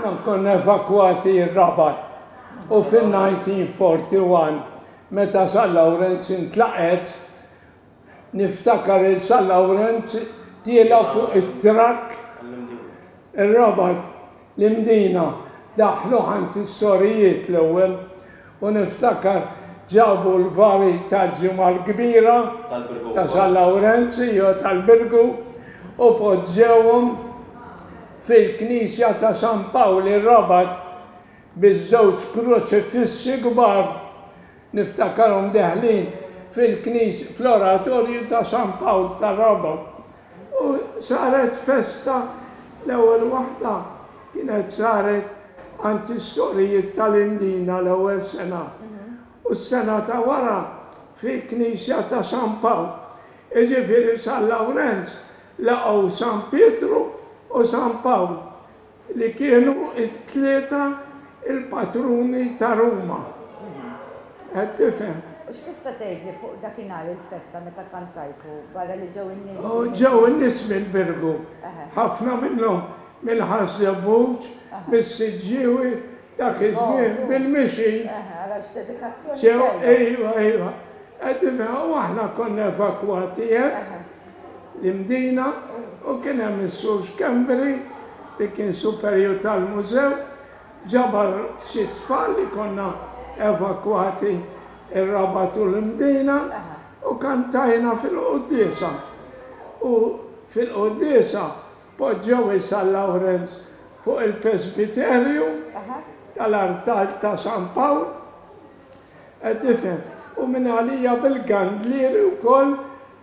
Aħna konna evakwati r-Rabat u fin-1941 meta San Lawrenz intlaqet niftakar il San Lawrenz tiela fuq it-trakk ir-Rabat l-Imdina daħlu ħant is-sorijiet l-ewwel U niftakar ġabu l-vari tal-Ġimgħa l-Kbira ta' San Lawrenz, jew tal-Birgu, u poġġewhom fil-knisja ta' San Pawl ir-Rabat biż-żewġ kruċifissi kbar. Niftakarhom deħlin fil-knis, fl-oratorju ta' San Pawl tar-Rabat. U saret festa, l-ewwel waħda kienet saret għand is-sorijiet tal-Imdina l-ewwel sena, u s-sena ta' wara fil-knisja ta' San Pawl. Jiġifieri San Lawrenz laqgħu San Pietru u San Pawl. li kienu t-tlieta l-patruni ta' Ruma. Qed tifhem? U x'tista' tgħidli fuq dakinhar il-festa meta kantajtu, barra li ġew in-nies bil-mijiet? Ġew in-nies mill-Birgu, ħafna minnhom mill-Ħaż-Żebbuġ, mis-Siġġiewi, Dak iż-żmien bil-mixi. Eħe, ara x'dedikazzjoni tajba. Ġew, ejwa, ejwa. Qed tifhem, u aħna konna evakwati hemm, l-Imdina, u kien hemm is-Sur Schembri li kien superjur tal-mużew, ġabar xi tfal li konna evakwati r-Rabat u l-Imdina u kantajna fil-quddiesa. U fil-quddiesa. Poġġew is-San Lawrenz fuq il-Presbiterju tal-artal ta' San Pawl, qed tifhem, u minn għalija bil-gandlieri wkoll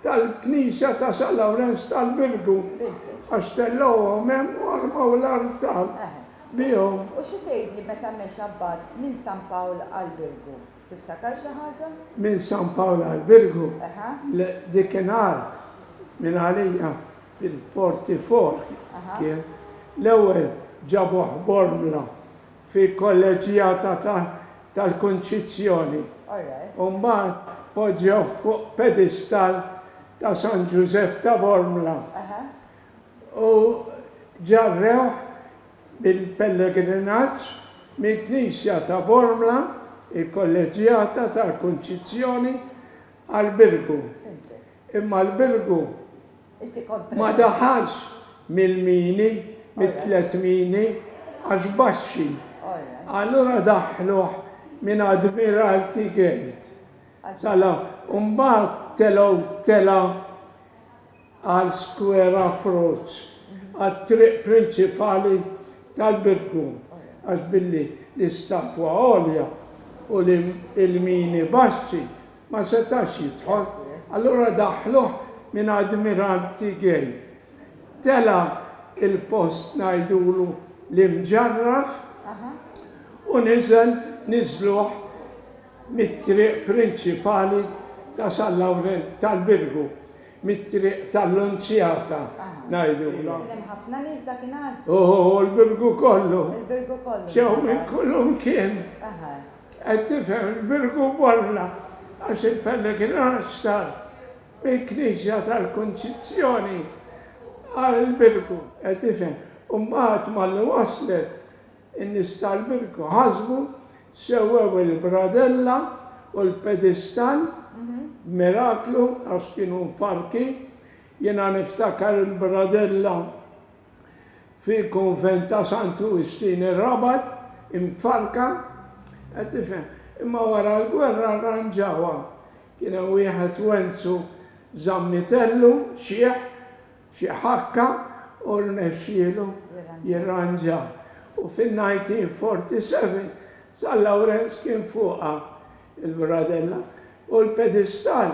tal-Knisja ta' San Lawrenz tal-Birgu, għax tellgħuhom hemm u armaw l-artal bihom. U xi tgħidli meta mexa mbagħad minn San Pawl għall-Birgu? Tiftakar xi ħaġa? Minn San Pawl għall-Birgu? Le, dik inqal minn għalija. fil-Forty-Four kien, l-ewwel ġabuh Bormla fi Kolleġġjata tal-Kunċizzjoni u mbagħad poġġewh fuq pedestall ta' San Ġużepp ta' Bormla u ġarrewh bil-pellegrinaġġ minn Knisja ta' Bormla, il-Kolleġġjata tal-Kunċizzjoni, għall-Birgu. Imma l-Birgu ma daħalx mill-mini, mit-tliet mini, għax baxxi. Allura daħħluh minn Admiralty Gate sa la u mbagħad telgħu telgħa għal Square Approach, għat-triq prinċipali tal-Birgu, għax billi l-istatwa għolja u l-mini baxxi, ma setax jidħol, allura daħħluh minn Admiralty Gate. Tela' il-post ngħidulu l-Imġarraf u niżel niżluh mit-triq prinċipali ta' San Lawrenz, tal-Birgu, mit-triq tal-Lunzjata ngħidulha. Kien hemm ħafna nies dakinhar? Ooh, l-Birgu kollu. Il-Birgu kollu. Ġew minn kullimkien. Aha. Qed tifhem il-Birgu Bolla għax il-pellegrinaġġ sar mill-Knisja tal-Kunċizzjoni għall-Birgu. Qed tifhem. U mbagħad malli waslet, in-nies tal-Birgu ħasbu, sewwew il-bradella u l-pedistal b'miraklu għax kienu mfarrkin. Jiena niftakar il-bradella. fil-Konvent ta' San Ġustin ir-Rabat imfarrka, qed tifhem, imma wara l-gwerra rranġawha. Kien hemm wieħed Wenzu Zammitellu, xiħ, xi ħakka u rnexxielu jirranġaha. U fin-1947 San Lawrenz kien fuqha il-bradella u l-pedistal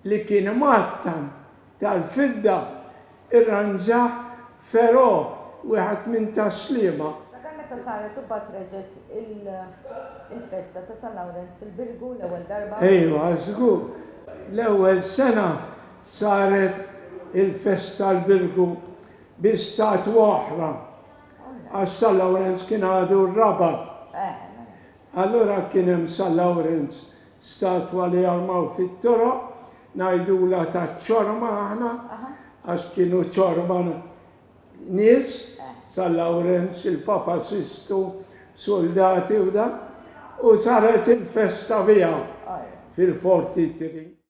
li kien imgħattan, tal-fidda, irranġah Ferò, wieħed minn tas-Sliema. Sakemm meta saret u mbagħad reġgħet il-festa ta' San Lawrenz fil-Birgu l-ewwel darba. Ejwa, żgur. L-ewwel sena saret il-festa l-Birgu bi statwa oħra, għax San Lawrenz kien għadu rrabat. Allura kien hemm San Lawrenz Statwa li jarmaw fit-toroq, ngħidulha taċ-ċorma aħna għax kienu ċorma nies, San Lawrenz, il-Papa Sistu, suldati u dak, u saret il-festa biha fil-Forti 3.